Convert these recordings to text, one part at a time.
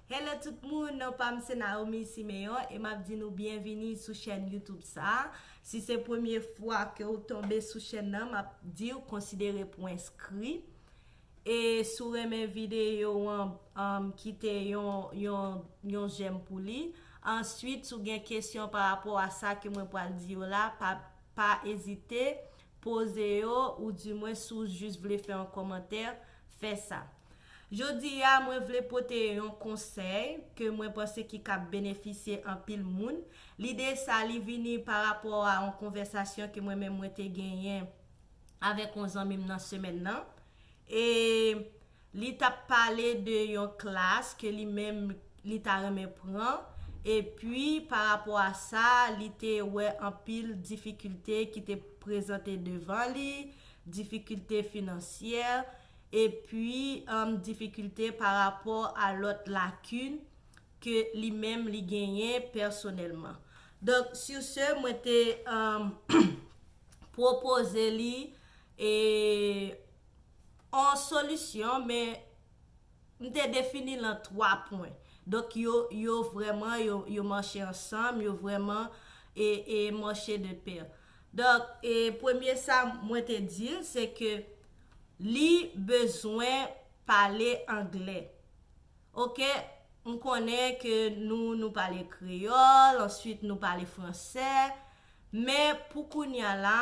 Hello tout moun, non pam se Naomi Siméon e map di nou byenvini sou chèn YouTube sa. Si se premye fwa ke ou tonbe sou chèn nan, map diw konsidere pou enskri. E si w renmen videyo an, anm kite yon yon yon jèm pou li. Answit si w gen kesyon pa rapò a sa ke mwen pral di yo la, pa pa ezite poze yo ou di mwen si w jis vle fè yon kòmantè. fè sa. Jodi a, mwen vle pote yon konsèy ke mwen panse ki kab benefisye anpil moun. Lide sa li vini pa rapò a yon konvèsasyon ke mwen menm mwen te genyen avèk yon zanmi m nan semèn nan. E li tap pale de yon klas ke li menm li ta renmen pran, e pi pa rapò a sa li te wè anpil difikilte ki te prezante devan li, difikilte finansyè, epi difikilte pa rapò a lòt lakin ke li menm li genyen pèsonèlman. Donk, sur ce, mwen te pwopoze li yon solisyon, men m te defini l an 3 pwen. Donk, yo vrèman, yo mache ansanm, yo vrèman mache de pè. Donk, e premye sa mwen te di l se ke li bezwen pale angle. Ok, m konnen ke nou, nou pale kreyòl, answit nou pale fransè, men pou kounya la,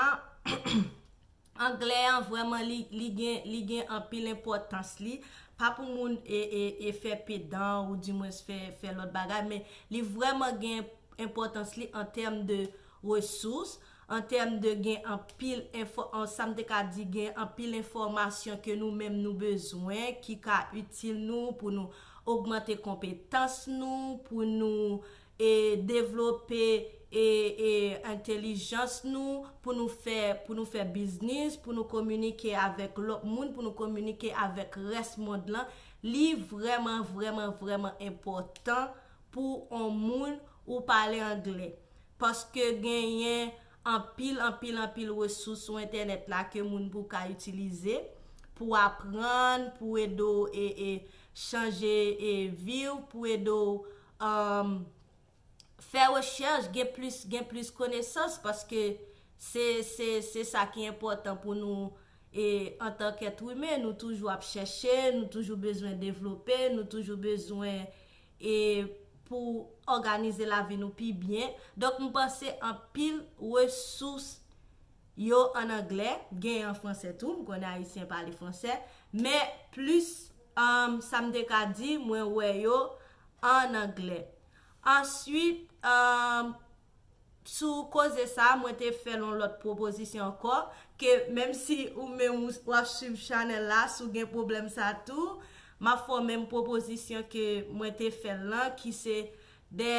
Anglè an vrèman li li gen li gen anpil enpòtans li pa pou moun e e e fè pedan ou di mwens fè fè lòt bagay men li vrèman gen enpòtans li an tèm de resous an tèm de gen anpil enfò an sa m te ka di gen anpil enfòmasyon ke nou menm nou bezwen ki ka itil nou pou nou ogmante konpetans nou pou nou e devlope e e entelijans nou pou nou fè pou nou fè biznis pou nou kominike avèk lòt moun pou nou kominike avèk rès mond lan li vrèman vrèman vrèman enpòtan pou on moun ou pale angle paske genyen anpil anpil anpil resous sou entènèt la ke moun pou ka itilize pou aprann pou ede w e e chanje e vi w pou ede w Umm fè rechèch gen plis gen plis konesans paske se se se sa ki enpòtan pou nou e antan k èt imen nou toujou ap chèche nou toujou bezwen devlope nou toujou bezwen e pou òganize lavi nou pi byen donk m panse anpil resous Yo an anglè, gen an fransè tou, m konnen ayisyen pale fransè, men plis sa m te ka di mwen wè yo an anglè. Answit, sou koze sa, mwen te fè yon lòt pwopozisyon ankò, ke menm si ou menm w ap swiv chanèl la, si w gen pwoblèm sa tou, m ap fè w menm pwopozisyon ke mwen te fè l lan, ki se de.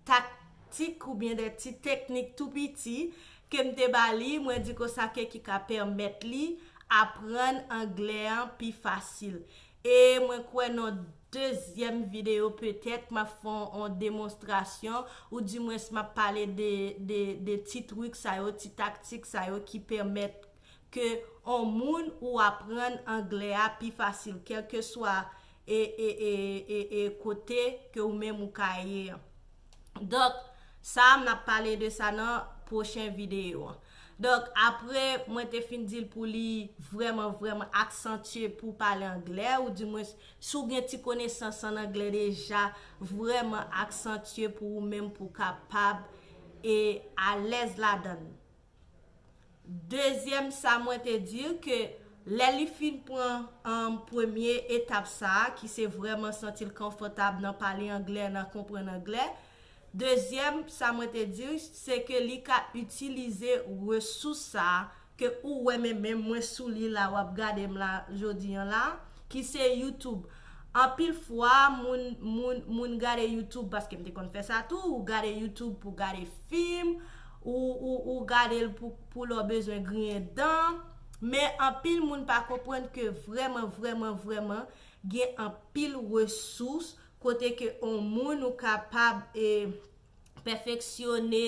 taktik oubyen de ti teknik tou piti ke m te ba li, mwen di konsa ke ki ka pèmèt li aprann anglè an pi fasil. E mwen kwè nan dezyèm videyo petèt m ap fè yon demonstrasyon ou di mwens m ap pale de ti trik sa yo, ti taktik sa yo ki pèmèt ke yon moun ou aprann anglè a pi fasil kèlkeswa e e e e e kote ke ou menm ou ka ye an donk sa a m ap pale de sa nan pwochen videyo an donk apre mwen te fin di l pou li vrèman vrèman aksantye pou w pale anglè ou di mwen si w gen ti konesans an anglè deja vrèman aksantye pou ou menm pou w kapab e alèz ladan l. Dezyèm sa mwen te di ke lè li fin pran premye etap sa a ki se vrèman santi l konfòtab nan pale anglè, nan konprann anglè, dezyèm sa mwen te di se ke li ka itilize resous sa a ke ou wè men menm mwen sou li la w ap gade m la jodi an la a. Ki se YouTube. Anpil fwa moun moun moun gade YouTube paske m te konn fè sa tou, ou gade YouTube pou gade fim, ou ou ou gade l pou pou lè w bezwen griyen dan. Men anpil moun pa konprann ke vrèman vrèman vrèman gen anpil resous kote ke on moun ou kapab e pèfeksyone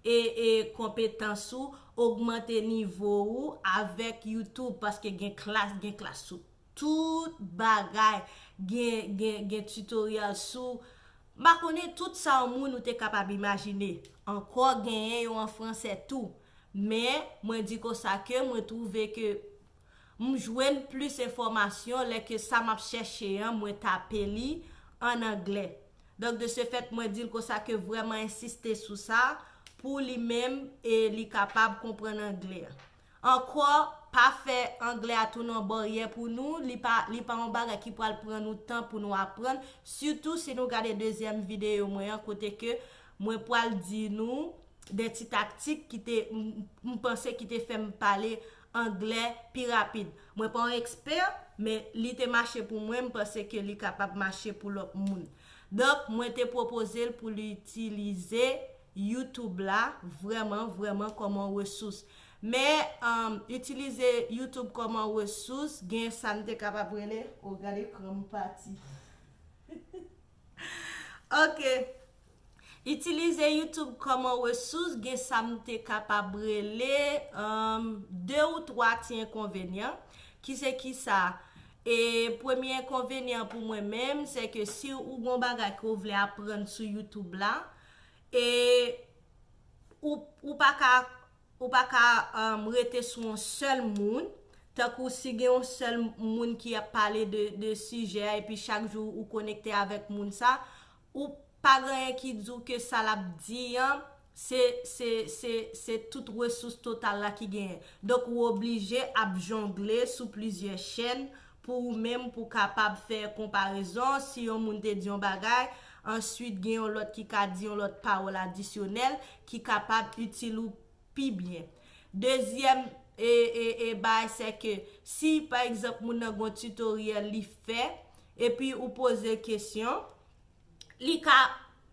e e konpetans ou, ogmante nivo ou avèk youtube paske gen klas gen klas sou tout bagay gen gen gen tutorial sou mpa konnen tout sa yon moun ou te kapab imajine ankò genyen yo an fransè tou men mwen di konsa ke mwen twouve ke M jwenn plis enfòmasyon lè ke sa m ap chèche an mwen tape li an anglè. Donk de se fèt mwen di l konsa ke vrèman ensiste sou sa pou li menm e li kapab konprann anglè. Ankò, pa fè anglè a tounen yon baryè pou nou, li pa li pa yon bagay ki pral pran nou tan pou nou aprann, sitou si nou gade dezyèm videyo mwen an kote ke mwen pral di nou de ti taktik ki te m panse ki te fè m pale anglè pi rapid. Mwen pa yon ekspè, men li te mache pou mwen, m panse ke li kapab mache pou lòt moun. Donk, mwen te pwopoze l pou li itilize YouTube la vrèman, vrèman kòm yon resous. Men, itilize YouTube kòm yon resous, gen sa n te kapab rele, o gade ekran m pati. Ok. Itilize YouTube kòman resous gen sa m te kapab rele 2 ou 3 ti enkonvenyan ki se ki sa e premye enkonvenyan an pou mwen menm se ke si ou gon bagay ke ou vle aprann sou YouTube la e ou pa ka Ou pa ka rete sou yon sèl moun, tankou si gen yon sèl moun ki ap pale de sijè a epi chak jou ou konekte avèk moun sa, ou pa gen anyen ki di w ke sa l ap di an se tout resous total la ki genyen. Donk ou oblije ap jongle sou plizyè chèn Pou ou menm pou kapab fè konparezon, si yon moun te di yon bagay, answit gen yon lòt ki ka di yon lòt pawòl adisyonèl ki kapab itil ou pi byen. Dezyèm e e e bay sè ke si pa egzanp moun nan gon tutoriel li fè epi ou poze kesyon, Li ka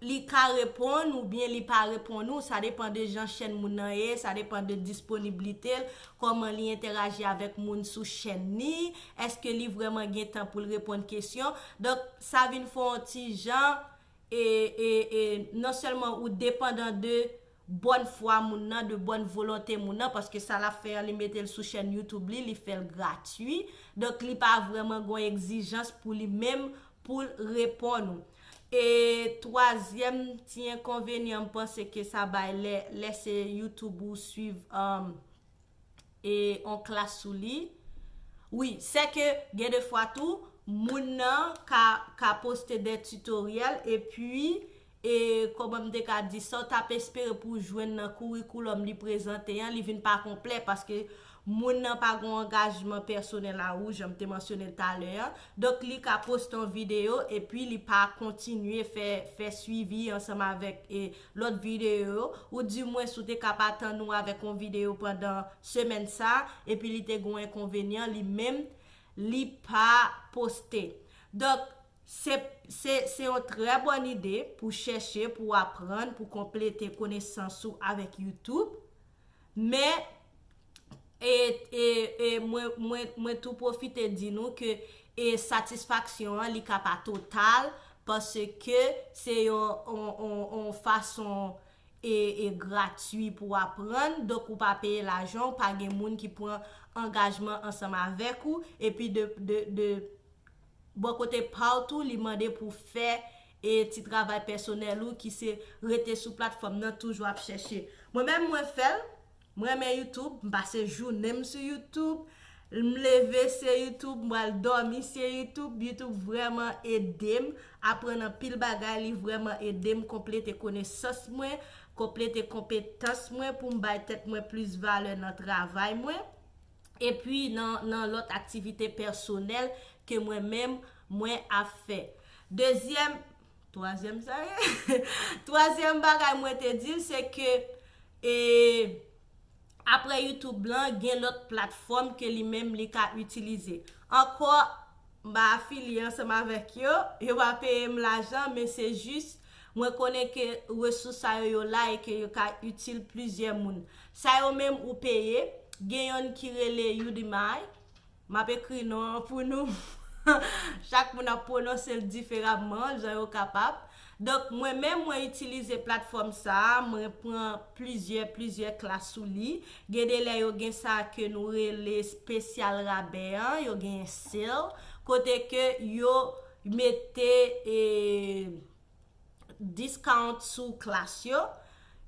Li ka reponn ou byen li pa reponn ou, sa depan de jan chèn moun nan ye, sa depan de disponiblite l, kòman li entèraji avèk moun sou chèn ni, èske li vrèman gen tan pou l reponn kesyon. Donk, sa vin fè yon ti jan e, e, e non sèlman ou depandan de bòn fwa moun nan, de bòn volonte moun nan, paske sa lap fè an li metel sou chèn youtube li, li fèl gratui, donk li pa vrèman gon egzijans pou li menm poul reponn ou. E twazyèm ti enkonvenyan m panse ke sa bay lè lè se youtube ou swiv e on klas sou li wi se ke gen de fwa tou moun nan ka ka poste de tutoriel e pi e koman m te ka di sa w t ap espere pou w jwenn nan kourikoulòm li prezante an li vin pa konplè paske moun nan pa gon angajman pèsonèl a ou jan m te mansyone l talè an donk li ka poste on videyo e pi li pa kontinye fè fè swivi ansanm avèk e lòt videyo yo, ou di mwen si w te kab atann ou avèk yon videyo pandan semèn sa, epi li te gen yon enkonvenyan li menm li pa poste. Donk, se se se yon trè bòn ide pou chèche, pou aprann, pou konplete konesans ou avèk youtube. Men, e mwen tou pwofite di nou ke e satisfaksyon an li ka pa total paske se yon fason e gratwi pou w aprann, donk ou pa peye lajan, ou pa gen moun ki pran angajman ansanm avèk ou, epi de bò kote pa w tou li mande pou w fè e ti travay pèsonèl ou ki se rete sou platfòm nan toujou ap chèche mwen menm mwen fèl m renmen youtube m pase jounen m sou youtube lm leve se youtube m pral dòmi se youtube youtube vrèman edem aprann anpil bagay li vrèman edem konplete konesans mwen konplete konpetans mwen poum bay tèt mwen plis valè nan travay mwen. epi nan lòt aktivite pèsonèl ke mwen menm mwen ap fè. Dezyèm, twazyèm sa ye? Twazyèm bagay mwen te di l se ke e apre YouTube lan gen lòt platfòm ke li menm li ka itilize. Ankò M pa afilye ansanm avèk yo, yo pa peye m lajan, men se jis mwen konnen ke resous sa yo yo la e ke yo ka itil plizyè moun. Sa yo menm ou peye, gen yonn ki rele Udemy, m ap ekri non an pou nou, chak moun ap pwononse l diferamman jan yo kapab. Donk mwen menm mwen itilize platfòm sa a, mwen pran plizyè plizyè klas sou li. Gen de lè yo gen sa ke nou rele spesyal rabè an, yo genyen sale, kote ke yo mete e discount sou klas yo.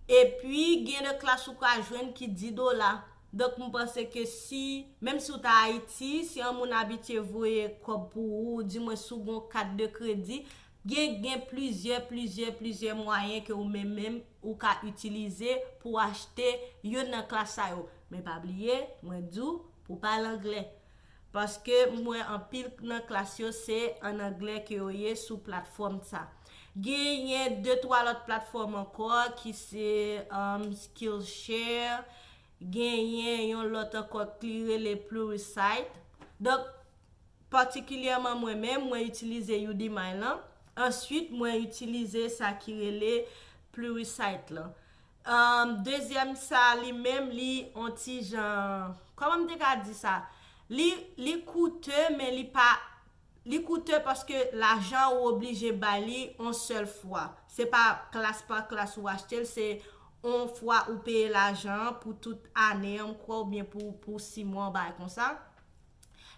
E pi gen de klas ou ka jwenn ki 10 dola. Donk m panse ke si, menm si w ta Ayiti, si yon moun abitye voye kòb pou ou, di mwen si w gen yon kat de kredi, Gen gen plizyè plizyè plizyè mwayen ke ou menm menm ou ka itilize pou achte youn nan klas sa yo. Men pa bliye, mwen di w pou pale angle. Paske m wè anpil nan klas yo se an angle ke yo ye sou platfòm sa. Genyen de twa lòt platfòm ankò ki se um, Skillshare, genyen yon lòt ankò ki rele Pluralsight. Donk, Patikilyèman mwen menm, mwen itilize Udemy lan. Answit mwen itilize sa ki rele Pluralsight lan. Dezyèm sa li menm li on ti jan, kòman m te ka di sa? Li, li koute men li pa, li koute paske lajan ou oblije bay li on sèl fwa. Se pa klas pa klas ou achte l, se on fwa ou peye lajan an pou tout ane an m kwè oubyen pou si mwa yon bagay konsa.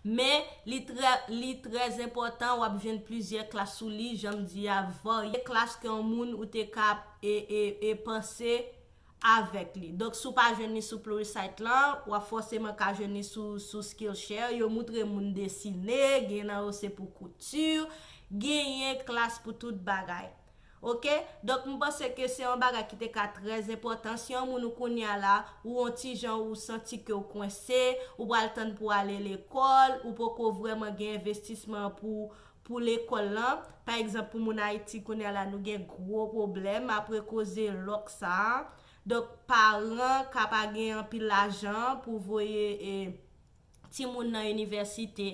Men, li trè, li trè enpòtan w ap jwenn plizyè klas sou li, jan m di a, varye klas ke yon moun ou te ka ap e, e, e panse avèk li. Donk, si w pa jwenn li sou Pluralsight lan, w ap fòseman ka jwenn li sou, sou Skillshare. Yo moutre moun desine, gen nan yo se pou kouti, genyen klas pou tout bagay. Ok donk m panse ke se yon bagay ki te ka trè enpòtan si yon moun ou kounya la ou on ti jan ou santi ke ou kwense ou pral tann pou ale lekòl ou poko vrèman gen envestisman pou pou lekòl lan pa egzanp pou moun ayiti kounya la nou gen gwo pwoblèm apre koze lòk sa a donk paran ka pa gen anpil lajan pou voye e. timoun nan inivèsite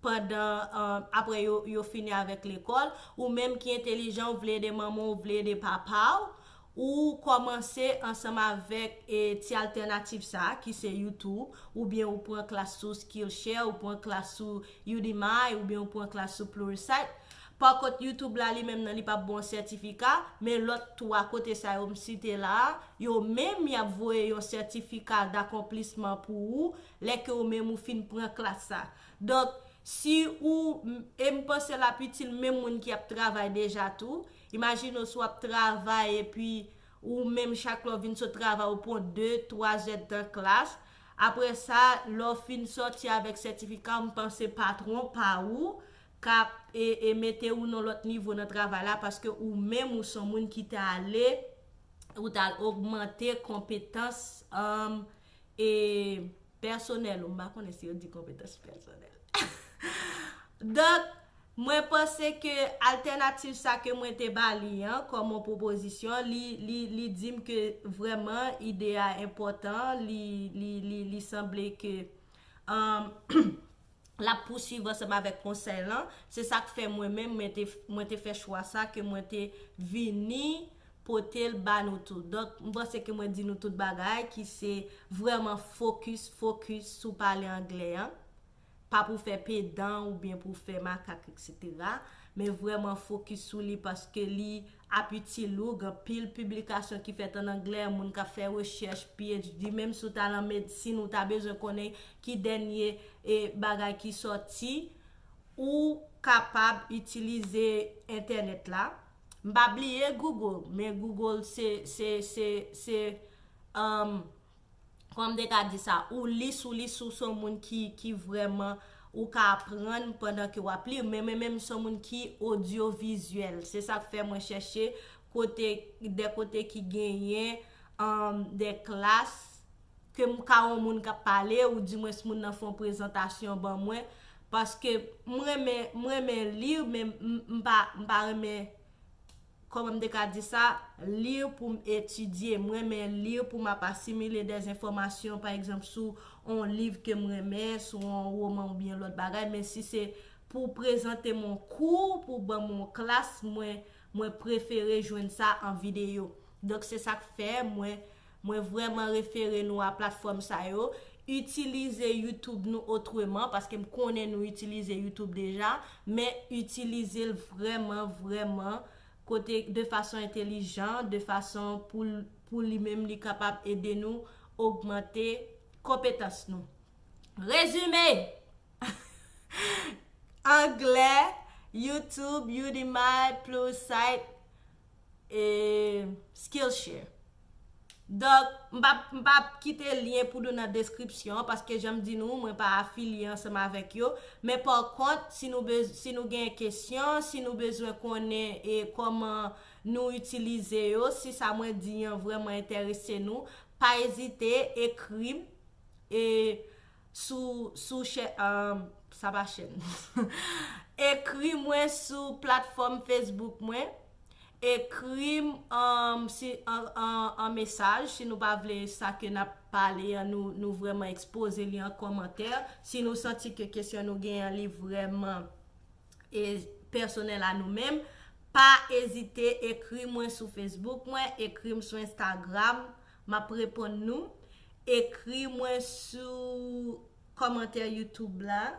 pandan apre yo fini avèk lekòl, ou menm ki entelijan ou vle ede manman ou vle ede papa ou, ou kòmanse ansanm avèk ti altènatif sa ki se youtube oubyen ou pran klas sou skillshare ou pran klas sou udemy oubyen ou pran klas sou pluralsight pa kont youtube la li menm nan li pap baw sètifika men lòt 3 kote sa yo m site la yo menm yap voye yon sètifika dakonplisman pou ou Lè ke ou menm ou fin pran klas sa. Donk, si ou, e m panse l ap itil menm moun ki ap travay deja tou. Imajine w si w ap travay epi ou menm chak lè w vin sot travay ou pran de, twa zèdtan klas. Apre sa, lè w fin sòti avèk sètifika w m panse patwon pa ou ka e mete ou nan lòt nivo nan travay la paske ou menm ou son moun ki te ale ou t al ogmante konpetans e pèsonèl ou, m pa konnen si yo di konpetans pèsonèl. Donk, mwen panse ke altènativ sa ke mwen te ba li an, kòm yon pwopozisyon, li di m ke vrèman ide a enpòtan, li sanble ke. l ap pousuiv ansanm avèk konsèy lan, se sa k fè mwen menm mwen te fè chwa sa ke mwen te vini pote l ba nou tout. Donk, m panse ke mwen di nou tout bagay ki se vrèman fokis, focus, sou pale anglè an. Pa pou fè pedan oubyen pou fè makak eksetera, men vrèman fokis sou li paske li. Ap itil ou, gen pil piblikasyon ki fèt an anglè, moun k ap fè rechèch, PHD, menm si w ta lan medsin ou ta bezwen konnen ki dènye bagay ki sòti, ou kapab itilize entènèt la. M pa bliye Google, men Google se se se se. Kòman m te ka di sa? Ou li sou li sou son moun ki ki vrèman ou ka aprann pandan ke wap li, men mwen menm son moun ki odyovizyèl. Se sa k fè mwen chèche kote de kote ki genyen anm de klas ke m ka wè yon moun kap pale ou di mwens moun nan fè yon prezantasyon ban mwen paske m renmen m renmen li men m pa m pa renmen Kòman m te ka di sa? Lire pou m etidye. M renmen lire pou m ap asimile dè enfòmasyon, pa egzanp, sou on liv ke m renmen, sou on woman oubyen lòt bagay. Men si se pou prezante m on kou, pou ban m on klas, mwen, mwen prefere jwenn sa an videyo. Donk se sa k fè mwen. Mwen vrèman refere nou a platfòm sa yo. Itilize YouTube nou otreman, paske m konnen nou itilize YouTube deja, men itilize l vrèman, vrèman kote de fason entelijan, de fason pou l, pou li menm li kapab ede nou ogmante konpetans nou. Rezime! Anglè, YouTube, Udemy, Pluralsight, E Skillshare. Donk, m pap, m pap kite lyen pou nou nan deskripsyon an, paske jan m di nou, mwen pa afilye ansanm avèk yo. Men pa kont, si nou bez, si nou gen kesyon, si nou bezwen konnen e kòman nou itilize yo, si sa mwen di an vrèman enterese nou, pa ezite, ekri m. E Sou sou chè aahh sa pa chèn ekri mwen sou platfòm Facebook mwen ekrim aahh si aahh an mesaj si nou pa vle sa ke nap pale an nou nou vrèman ekspoze li an kòmantè si nou santi ke kesyon nou gen an li vrèman e pèsonèl a nou menm pa ezite ekri mwen sou Facebook mwen ekrim sou Instagram M ap reponn nou. Ekri mwen sou kòmantè youtube la,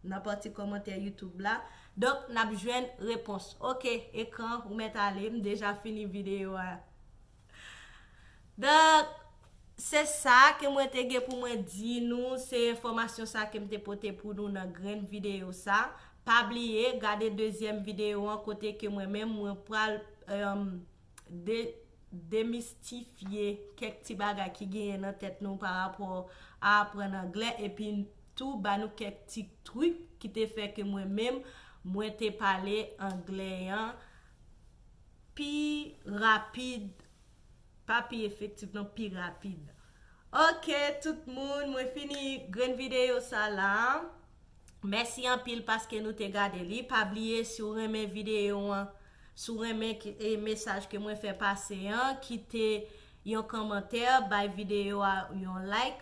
nan pati kòmantè youtube la. Donk n ap jwenn repons. Ok ekran ou mèt ale m deja fini videyo a. Donk se sa ke mwen te gen pou mwen di nou, se enfòmasyon sa ke m te pote pou nou nan grenn videyo sa. Pa bliye gade dezyèm videyo an kote ke mwen menm mwen pral demistifye kèk ti bagay ki genyen nan tèt nou pa rapò a aprann anglè epi tou ba nou kèk ti trik ki te fè ke mwen menm mwen te pale anglè an pi rapid pa pi efektif nan pi rapid ok tout moun mwen fini grenn videyo sa la mèsi anpil paske nou te gade li pa bliye si w renmen videyo an Si w renmen mesaj ke mwen fè pase an, kite yon kòmantè, bay videyo a yon like,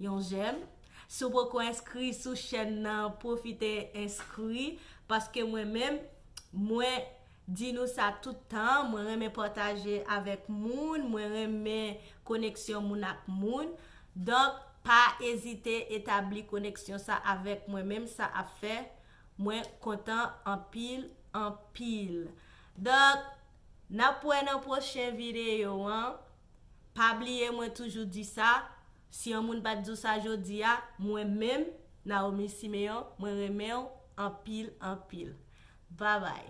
yon jèm. Si w poko enskri sou chèn nan, pwofite enskri, paske mwen menm, mwen di nou sa tout tan, mwen renmen pataje avèk moun, mwen renmen koneksyon moun ak moun. Donk, pa ezite etabli koneksyon sa avèk mwen menm, sa ap fè. Mwen kontan anpil anpil. Doc Nap wè nan pwochen video an Pa bliye mwen toujou di sa Si yon moun pat di w sa jodi a Mwen menm Naomi Siméon mwen renmen w anpil anpil Babay.